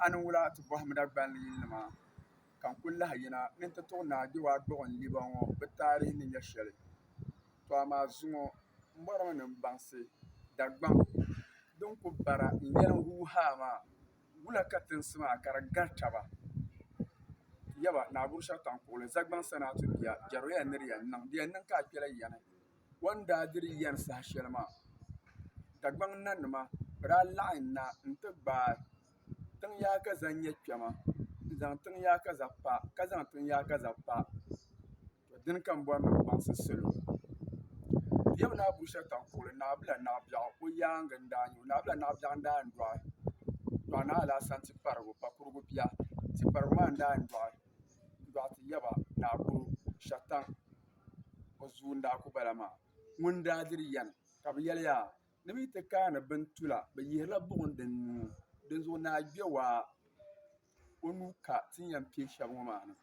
A ni wula ti bɔhim Dagbani yilinima ka n kul lahi yina ni n ti tuɣi Naa Gbiwaagbɔɣu n liba ŋɔ bɛ taarihi ni nyɛ shɛli. Tɔ amaa zuŋɔ m bɔrimi ni m baŋsi Dagbaŋ din ku bara n yɛliŋ huu haa maa, wula ka tinsi maa ka di gari taba? Yaba, Naa Gurshɛtaŋkuɣili, Zagbaŋ Sanaatu bia, Jɛrɔya ni di yɛn niŋ, di yɛn niŋ ka a kpɛla yani. O ni daa diri yɛri saha shɛli maa Dagbaŋ nanima bi daa laɣim na n-ti gbaai tiŋ yaakaza nyɛ kpɛma n-zaŋ tiŋ yaakaza pa ka zaŋ tiŋ yaakaza pa dini ka m bɔri ni bɛ baŋsi salo Lebi ni Abushataŋ kuɣili Naɣila Naɣibiɛɣu o yaaŋa n-daa nya o Naɣila Naɣibiɛɣu n-daa yɛn dɔɣi dɔɣi Naɣila Alasan Tiparigu Pakurigu bia Tiparigu maa n-daa yɛn dɔɣi dɔɣi ti yaba Naɣikuru Shataŋ o zuun daa ku bala maa ŋun daa diri yɛn ka bɛ yɛliya ni bɛ yi ti kaani bini tula bɛ yihirila buɣim din nuu dinzuɣu naa gbɛ waa o nuu ka ti ni yɛn kpe shɛba ŋɔ maa ni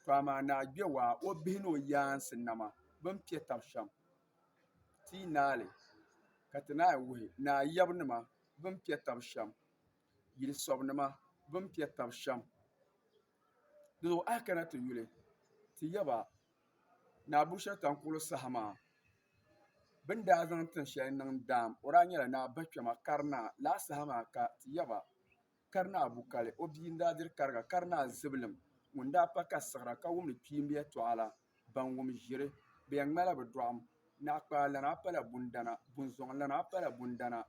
to amaa naa gbɛ waa o bihi ni o yaansi nama bɛ ni kpe taba shɛm ti yi naai ka ti naai wuhi naa yabinima bɛ ni kpe taba shɛm yili sɔbinima bɛ ni kpe taba shɛm. Dinzuɣu a yi kana ti yuli, ti yɛl ba, Naa Bushiri Taŋkuɣili saha maa, bɛ ni daa zaŋ tin shɛli niŋ daam, o daa nyɛla Naa Bachama Karinaa. Lala saha maa ka ti yɛl ba, Karinaa Bukali, o bia n-daa diri kariga, Karinaa Zibilim ŋun daa pa ka siɣira ka wumdi kpiimb yɛtɔɣa la. ban wum ʒiri bɛ ya ŋmala bɛ dɔɣim. Naɣikpaalana a pala bundana, bunzɔŋlana a pala bundana,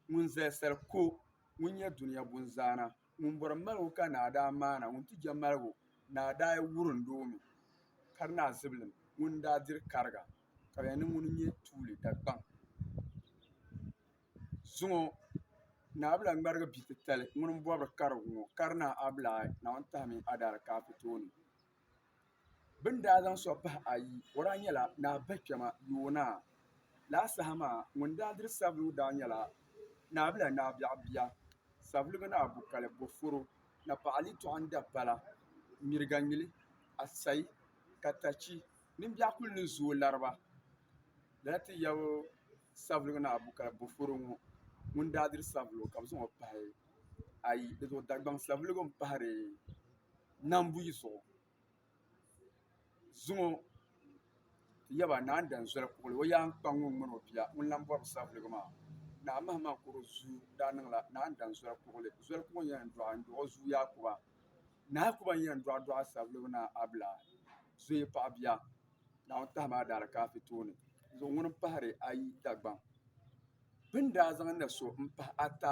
ŋun zali sal ku o, ŋun nya dunia bunzaana, ŋun bɔri maligu ka naa daa maana, ŋun ti je maligu naa daa wurin di o mi, ka di naa zibilim ŋun daa diri kariga, ka bɛ ya ni ŋuni n-nyɛ tuuli Dagbaŋ. Zuŋɔ naa bi lahi ŋmarigi bi' titali ŋuni m-bɔbiri karigu ŋɔ, ka di naa a bi lahi Naawuni tahimi a daalikaafitooni. Bɛ ni daa zaŋ sɔɣ pahi ayi, o daa nyɛla Naa Bɛkpɛma Yoonaa. Lala saha maa, ŋun daa diri Savelugu daa nyɛla Naabila Naa Biɛɣu bia, Savelugu Naa Bukali Boforo, Napɔɣu Ali Tɔɣim Dabala, Mirigaŋmili, Asai, Katachi ni biɛɣu kul ni zooi lari ba. Lala ti yab Savelugu Naa Bukali Boforo ŋɔ ŋun daa diri Savelugu ka bɛ zaŋ o pahi ayi. Dinzuɣu Dagbaŋ Savelugu m-pahiri. Nambuyi zuɣu zuŋɔ ti yaba Naa Danzoli Kugli o yaan kpa ŋun ŋmani o bia ŋun lan bɔri savelugu maa. Naa Mahima Koro zuu daa niŋla Naa Danzoli Kugli zoli kuŋɔ yɛn dɔɣi n-dɔɣi o zuu Yaakuba. Naa Yaakuba n-yɛn dɔɣi dɔɣi savelugu Naa Abla zoya paɣ bia. Naawuni tahi maa daala ka a fi tooni zuɣu ŋuni m-pahiri ayi Dagbaŋ. Bɛ ni daa zaŋ na so m-pahi ata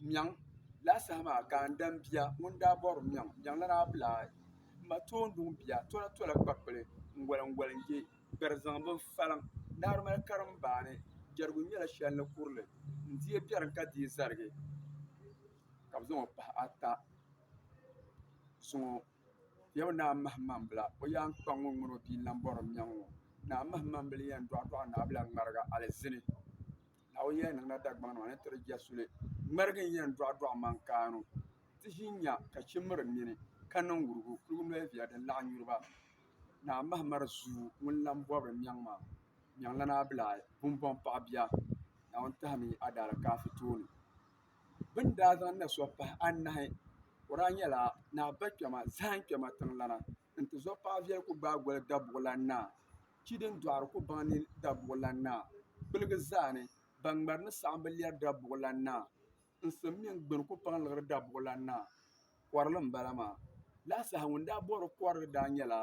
Miɛŋ laa saha maa ka n dam bia ŋun daa bɔri Miɛŋ. Miɛŋ lana a bila ayi. M ma tooi n-duŋ bia tɔla tɔla kpakpili n-goli n-goli n-je gbɛri zaŋ bin faliŋ. Naari mali karimbaani jɛrigu nyɛla shɛli ni kuri li. N di ya biɛrim ka dii zarigi ka bɛ zaŋ o pahi ata zuŋɔ. Yɛm Naa Mahimambila o yaan kpa ŋun ŋun o bia Nambɔrim nyaŋ ŋɔ. Naa Mahimambili yɛn dɔɣidɔɣi Naabila ŋmariga alizini. Naawuni yɛn niŋla Dagbaŋ ni o ni ti di jɛsuli. Ŋmarigi n-yɛn dɔɣidɔɣi mankaanu ti ʒi nya ka chi miri nini ka niŋ wurugu. Kuligu noliviya din laɣim yuri ba. Naa Mahimari zuu ŋun Nambɔbiri nyaŋ maa nyaŋla Naabila bumbɔŋ paɣ bia. Naawuni tahimi yi adaalaakaafi tooni. bɛ ni daa zaŋ na sɔɣ pahi anahi o daa nyɛla ni a ba kpɛma zahim kpɛma tiŋlana n-ti zuɣu paɣ viɛl ku gbaai goli Dabuɣilan Naa, chi din dɔɣiri ku baŋ ni Dabuɣilan Naa kpiligi zaa ni ban ŋmɛri ni saɣim bi lɛri Dabuɣilan Naa, n sim mini gbini ku paŋ liɣiri Dabuɣilan Naa. Kɔrili m-bala maa. Lala saha ŋun daa bɔhiri kɔrili daa nyɛla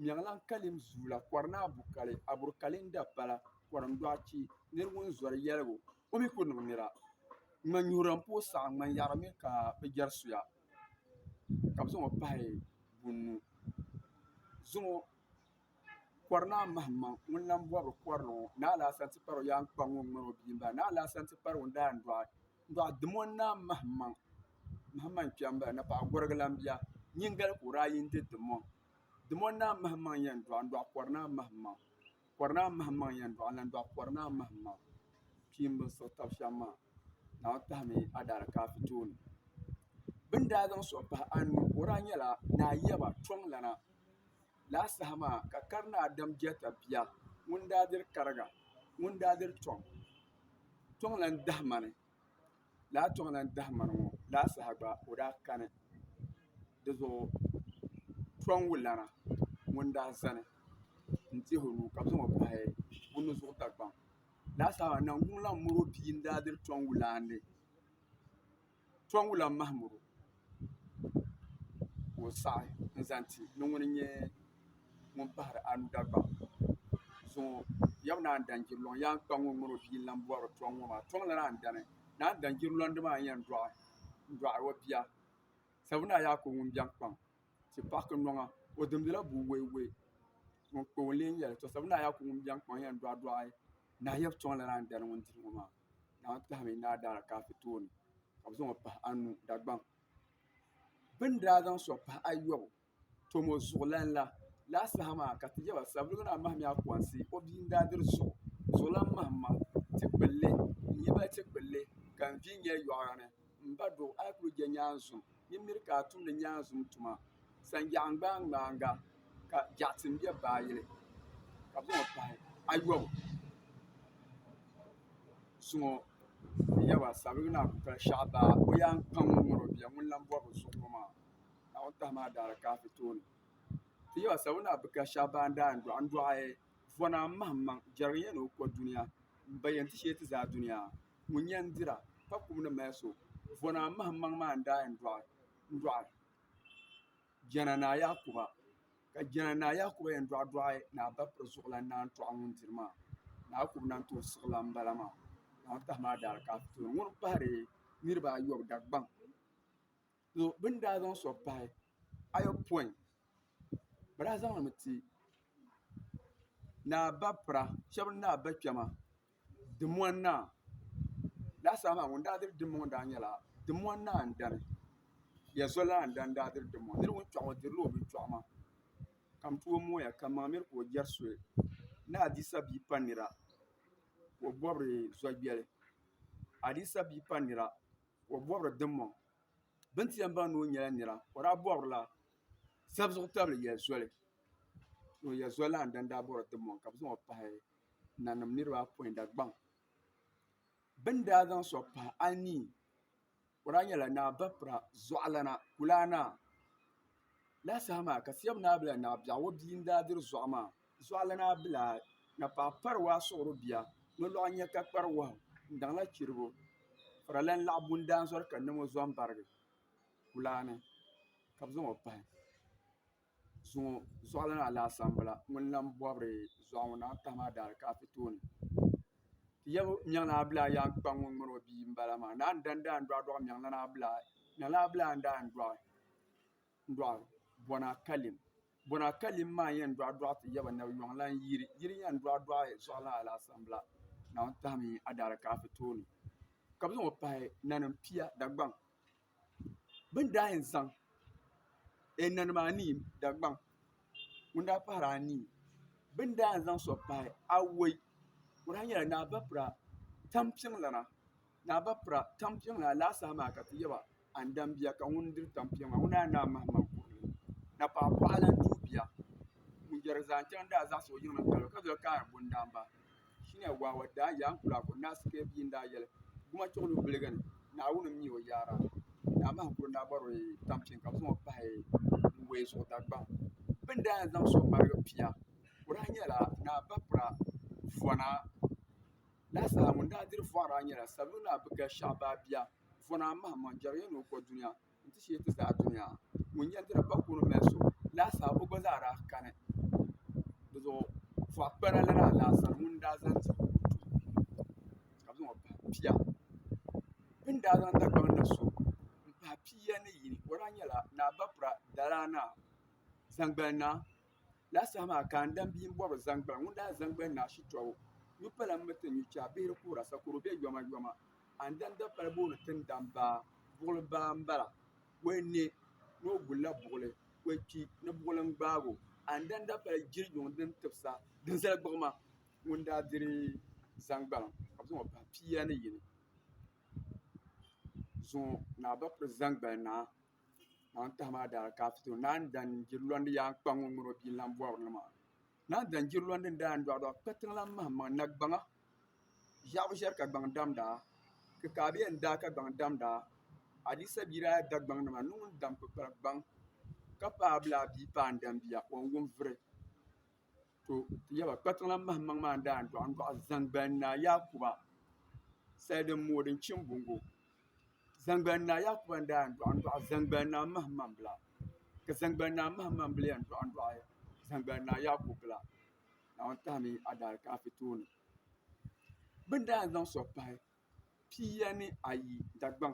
Mɛɣilaŋ Kalim Zuula, Kɔrinaa Bukali, Aburi Kalinda Pala, Kɔrim Dɔɣichi, Niriwunzɔri Yɛligu. O mi ku niŋ nira ŋman nyuhira m-pooi saɣi ŋman yaɣiri mi ka bɛ jɛri suya ka bɛ zaŋ o pahi bunni zaŋ o kɔri naa mahimaŋ ŋun lan bɔri kɔrili ŋɔ ni alaasana ti kpari o yaaŋkpaŋ ŋɔ m-mali o bia m-bala ni alaasana ti kpari o daandɔɣu dɔɣu dimi o naa mahimaŋ mahimaŋ kpɛbu m-bala ni paɣ' gɔrigu lan bia nyiŋgoli ka o daa yi n-ti dim o dim o naa mahimaŋ yɛn dɔɣi n-dɔɣi kɔri naa mahimaŋ Kɔri naa mahim maŋ yɛn dɔɣi n-lan dɔɣi kɔri naa mahim maŋ pii m-bini suhi tab shɛm maa. Naawuni tahimi Adaarakaafi tooni. Bɛ ni daa zaŋ suhi pahi anu o daa nyɛla Naa Yaba Kpiɔŋlana. Lala saha maa ka kari naa Dam Jɛta bia ŋun daa diri kariga ŋun daa diri Kpiɔŋ Kpiɔŋlan Dahimani. laa tɔŋ la n-dahi mani ŋɔ laa saha gba o daa kani di zuɣu tɔŋgu lana ŋun daa zani n-teei o nuu ka zaŋ o pahi o nuzuɣu dagbaŋ laa saha maa Naŋguŋ lan miri o bia n-daa diri tɔŋgu lana ni tɔŋgu lan mahim o. ka o saɣi n zaŋ ti ni ŋuni n-nyɛ ŋun pahiri anu Dagbaŋ zuŋɔ yaba ni a ni dan ʒiri luŋ yaan kpa ŋun ŋun o bia n-lan bɔri tɔŋ ŋɔ maa tɔŋ lana n-dani ni a ni dan ʒiri lɔndi maa n-yɛn dɔɣi n-dɔɣi o bia sabuna a yaako ŋun biɛni kpaŋ ti pahi kinnoŋa o dimbila bua waiwai ŋun kpa o n-lee yɛli tɔ sabuna a yaako ŋun biɛni kpaŋ yɛn dɔɣidɔɣi nahi yaba tɔŋ lana n-dani ŋun diri ŋɔ maa Naa tahimi ni a daa alikafi tooni ka bi zaŋɔ pahi anu Dagbaŋ bi ni daa zaŋ soŋ pahi ayobu tom o zuɣulana la laa saha maa ka ti yaba savelugu naa mahimiya akoonsi o bia n daa diri zuɣu zuɣulan mahim maŋ ti kpulli n yibali ti kpulli ka n vi nyɛli yɔɣu ni M ba do, a yi kuli je nyaanzum, nyin miri ka a tumdi nyaanzum tuma. Sanjaɣu ŋmaŋmaaŋa ka jaɣisim be baayili ka buŋ o pahi ayɔbu zuŋɔ yaba sabibu ni a kuli pali shɛɣu baa o yaan kpa ŋun ŋun o bia ŋun lan bɔri bi zuɣu ŋɔ maa. Naawuni tahi maa daa di kaafi tooni. Ti yaba sabibu ni a bi ka shɛɣu baa n daa yɛn dɔɣi. N dɔɣi vɔna m mahimmaŋ jɛrigi n yɛn ni o ko dunia m ba yɛn ti shee ti zaa dunia. ŋun yɛn dira ka kum ni mali so vɔna mahim maŋ maa n-daa yɛn dɔɣi Jana Naa Yakuba ka Jana Naa Yakuba yɛn dɔɣi dɔɣi Naa Bapir zuɣulan naan tɔɣi ŋun diri maa Naa Yakuba naan tooi siɣi la m-bala maa Naa Bapir maa daali ka a ti tooi ŋuni pahiri niriba ayɔbu Dagbaŋ bɛ ni daa zaŋ so pahi ayɔpɔin bɛ daa zaŋ li mi ti Naa Bapira shɛba ni Naa Bakpɛma. Dimmɔni naa laasabu maa ŋun daa diri dimma ŋɔ daa nyɛla dimmɔni naa n dani ya zo lana n dani daa diri dimma ŋɔ niri ŋun kpɛɣu ŋɔ o dirila o binchɔɣu maa ka n tooi mooya ka maŋ miri ka o jɛri soli ni adiisa bia pa nira ka o bɔbiri zɔyɛli adiisa bia pa nira ka o bɔbiri dimmɔŋ bini ti yɛn baŋ ni o nyɛla nira ka o daa bɔbirila sabi zuɣu tabili ya zoli ka o ya zo lana n dani daa bɔbiri dimmɔŋ ka bɛ zaŋ o pahi nanim niraba apoin Dagbaŋ bi ni daa zaŋ soŋ pahi anii o daa nyɛla Naa Bapira Zuɣulana Kulana lala saha maa ka Siyam Naa Bila Naa Biɛɣu o bia n daa diri zuɣu maa Zuɣulana Abila ni paɣa pari waa suɣuri bia nolɔɣu nyɛ ka kpari wahu n daŋla chiribo faralan laɣa bundaanzɔri ka ni ŋɔ zɔmbarigi kulana ka bi zaŋ o pahi zuŋɔ zuɣu lana laasabu m-bala ŋun lan bɔbiri zuɣu ŋɔ naai tahi maa daali ka a ti tooni ti yɛligu mɛɣuni abila yaan kpa ŋun ŋmani o bia m-bala maa naai n-dani daa n-dɔɣi dɔɣi mɛɣulana abila mɛɣulana abila yɛn daa n-dɔɣi dɔɣi bɔna kalim bɔna kalim maa yɛn dɔɣi dɔɣi ti yaba ni yɔŋ lan yiri yiri yɛn dɔɣi dɔɣi zuɣu lana laasabu m-bala naawuni tahimi a daali ka a ti tooni ka bɛ zaŋ o pahi nanim pia Dagbaŋ Bini daa yɛn zaŋ ɛɛ nanima anii Dagbaŋ ŋuni daa pahila anii bini daa yɛn zaŋ so pahi awɔi o daa yɛla ni a ba pira tani piɛlli ni a ba pira tani piɛlli alaai saha maa ka ti yɛba ani dam bia ka ŋuni diri tani piɛlli maa ŋuni daa yɛn ni a mahi maŋa kurili napɔɣi bɔɣu lan tuhi bia ŋuni yɛri zaa n chaŋ daa zaɣisi o yiŋa n kani o ka doli kaaya bɔni daa n ba. Shina Wawa daa yaai Nkulaako Naasi Kaya bia n-daa yɛli, Guma chuɣili o biliga ni, Naawuni m-mi o yaara. Naa Mahigu n-daa bɔri o tampiŋ ka bɛ zaŋ o pahi Wuwei zuɣu Dagbaŋ. Bɛ ni daa yɛn zaŋ so ŋmarigi pia, o daa nyɛla Naa Bapira Vɔna. Naa Saha ŋun daa diri Vɔna daa nyɛla Savelugu Naa Bigashɛɣu baa bia. Vɔna mahim maŋ jɛrigiya ni o kɔduniya. nti shee ti zaa dunia. Ŋun yɛndira pa kuuni mali so laasaa o gba zaa daa kani. Dizuɣu Fɔɣikpana lana alaasara ŋun n-daa zaŋ ti o ni ti o ka bɛ zaŋ o pahi pia. Bɛ ni daa zaŋ Dagbaŋ na so m-pahi pia ni yini o daa nyɛla Naa Bapra Daraa Naa Zaŋgbali Naa. Laa saha maa ka n dam bia m-bɔbi zaŋgbani. Ŋun daa zaŋgbani ni ashitɔbu nyu pala m-mi ti nyu chɛ a bihiri kuhira sakoro be yomayoma. A ni dam dapali booni ti ni dam baa, buɣili baa m-bala. O yi ne ni o gulila buɣili, o yi kpi ni buɣili n-gbaag o. A ni dam dapali jiri yuŋ din tibisa din zali gbuɣima. Ŋun daa diri zaŋgbana ka bɛ zaŋ o pahi pia ni yi ni zaŋ o ni a ba piri zaŋgbani naa. Naan tahi maa daa ka afito naan dan jiri lɔndi yaa n-kpa ŋun ŋun o bia lan bɔri li maa. Naan dan jiri lɔndi n-daa n dɔɣidɔɣi kpa tiŋ lan mahim maŋ na gbaŋa. Ʒiɛɣu ʒiɛri ka gbaŋ dam daa, kikaabia n-daa ka gbaŋ dam daa. Adisa bia daa da gbaŋ nima ni ŋun dam kpikpal gbaŋ ka paai bili a bia paai n-dam bia, o n-wum vuri. to ti yaba kpatiŋla mahimaŋ maa n-daa n-dɔɣi n-dɔɣi Zaŋgbani Naa Yakuba sali din mooi din chim buŋgo Zaŋgbani Naa Yakuba n-daa n-dɔɣi n-dɔɣi Zaŋgbani Naa mahimaŋ bila ka Zaŋgbani Naa mahimaŋ bila yɛn dɔɣi n-dɔɣi Zaŋgbani Naa Yakubu bila Naawuni tahi mi adaalikafi tooni bɛ ni daa zaŋ so pahi pia ni ayi Dagbaŋ.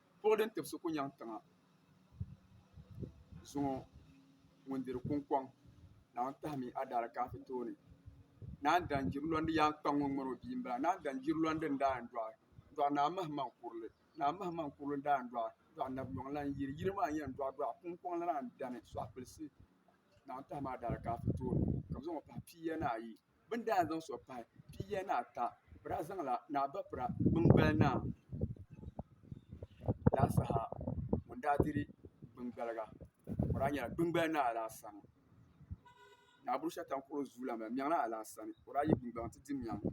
Buɣi din tibisi ku nyaŋ tiŋa zuŋɔ ŋun diri kuŋkɔŋ naawuni tahimi adaalikafi tooni naan dan jiri lɔndi yaan kpa ŋun ŋmani o bia m-bala naan dan jiri lɔndi n-daa yɛn dɔɣi dɔɣi naa mahimaŋ kurili naa mahimaŋ kurili n-daa yɛn dɔɣi dɔɣi nabinyɔŋ lan yiri yiri maa n-yɛn dɔɣi dɔɣi kuŋkɔŋ lana n-dani sɔɣi kpulisi naawuni tahimi adaalikafi tooni ka bɛ zaŋ o pahi pia ni ayi bɛ ni daa zaŋ sɔɣi pahi pia ni ata bɛ daa zaŋla ni a ba pira biŋgbal naa laa saha ŋun daa diri biŋgbaliga o daa nyɛla biŋgbal naa Alaasana Naa Bushata n-kɔri o zuliya maa Mɛɣuni Alaasani ka o daa yi biŋgbaliŋ nti di mɛɣu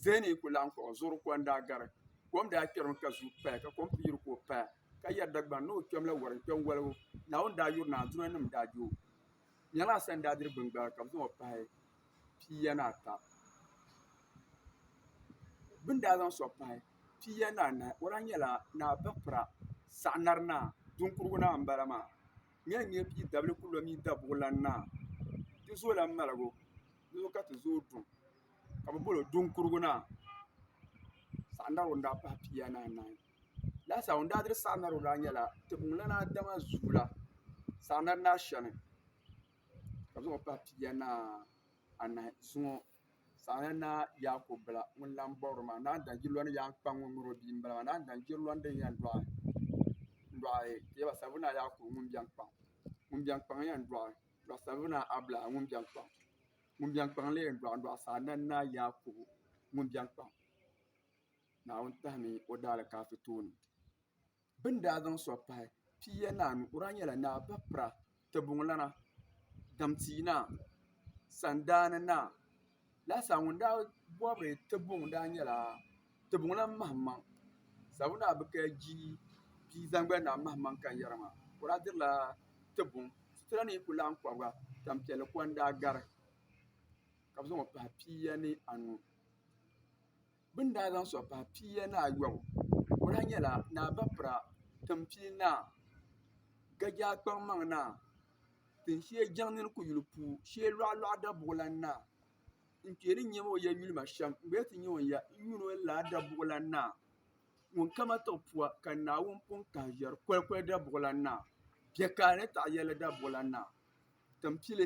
Zɛɛni yi kuli laɣim kɔŋ o zuɣuri ko n-daa gari kom daa kpɛri o mi ka zuui paya ka kom pii yuri ka o paya ka yɛri Dagbani ni o kpɛm la wari n-kpɛ n-waligu Naawuni daa yuri ni Andunanim daa je o. Nyala a sani daa diri bini gbaai ka bɛ zaŋ o pahi pia ni ata. Bɛ ni daa zaŋ so pahi pia ni anahi o lahi nyɛla Naa Bapira Saɣinari Naa Duŋkurugu Naa m-bala maa. Nyala n-nyɛ bia dabili kuli lo mini Dabuɣilan Naa. Ti zo la maligu di zuɣu ka ti zo duŋ ka bɛ bol o Duŋkurugu Naa. Saɣinari o ni daa pahi pia ni anahi. Laasabu n daa diri saɣi narigu maa nyɛla tiŋlana dama zuula saɣi nari ni ashɛli ka bi zaŋɔ pahi pia ni anahi zuŋɔ saɣi nari ni yaakob bila ŋun lan bɔbiri maa naan dan yirila ni yaan kpaŋ ŋɔ mini o bia n bala maa naan dan yirila ni din yɛn dɔɣi ka yɛba sabi ni yaakob ŋun biɛn kpaŋ ŋun biɛn kpaŋ yɛn dɔɣi n dɔɣi sabi ni abila ŋun biɛn kpaŋ ŋun biɛn kpaŋ la yɛn dɔɣi n dɔɣi saɣi nari ni yaakob ŋun biɛn kpaŋ Naawuni tahimi o daalikaafɛ tooni. Bɛ ni daa zaŋ sɔɣ pahi piiya ni anu, o daa nyɛla naa bapira, tibuŋlana, damtia naa, sandaani naa. Lahisaa ŋun daa bɔri tibuŋ daa nyɛla tibuŋlan Mahammaŋ Sabu naa bɛ ka ji bia zaŋgoli naa Mahammaŋ Kanyɛri maa, o daa dirila tibuŋ. Sitira ni yi ku laɣim kɔbiga, tampiɛlli ko n-daa gari ka bɛ zaŋ o pahi piiya ni anu. Bɛ ni daa zaŋ sɔɣi pahi pia ni ayɔbu o lahi nyɛla Naa Bapira Timpii Naa Gajaakpaŋmaŋnaa Tinsheei Jiŋniri Kuyili Puu Shee Lɔɣilɔɣi Dabuɣilan Naa n-kpe ni n-nyɛ ma o ya yulima shɛm n gba yɛti n-nyɛ o ya n yuun o ni laa Dabuɣilan Naa ŋun ka ma tiɣi pua ka Naawuni pun kahi ʒiɛri kolikoli Dabuɣilan Naa Biɛkaali ni Taɣiyɛlli Dabuɣilan Naa Timpili.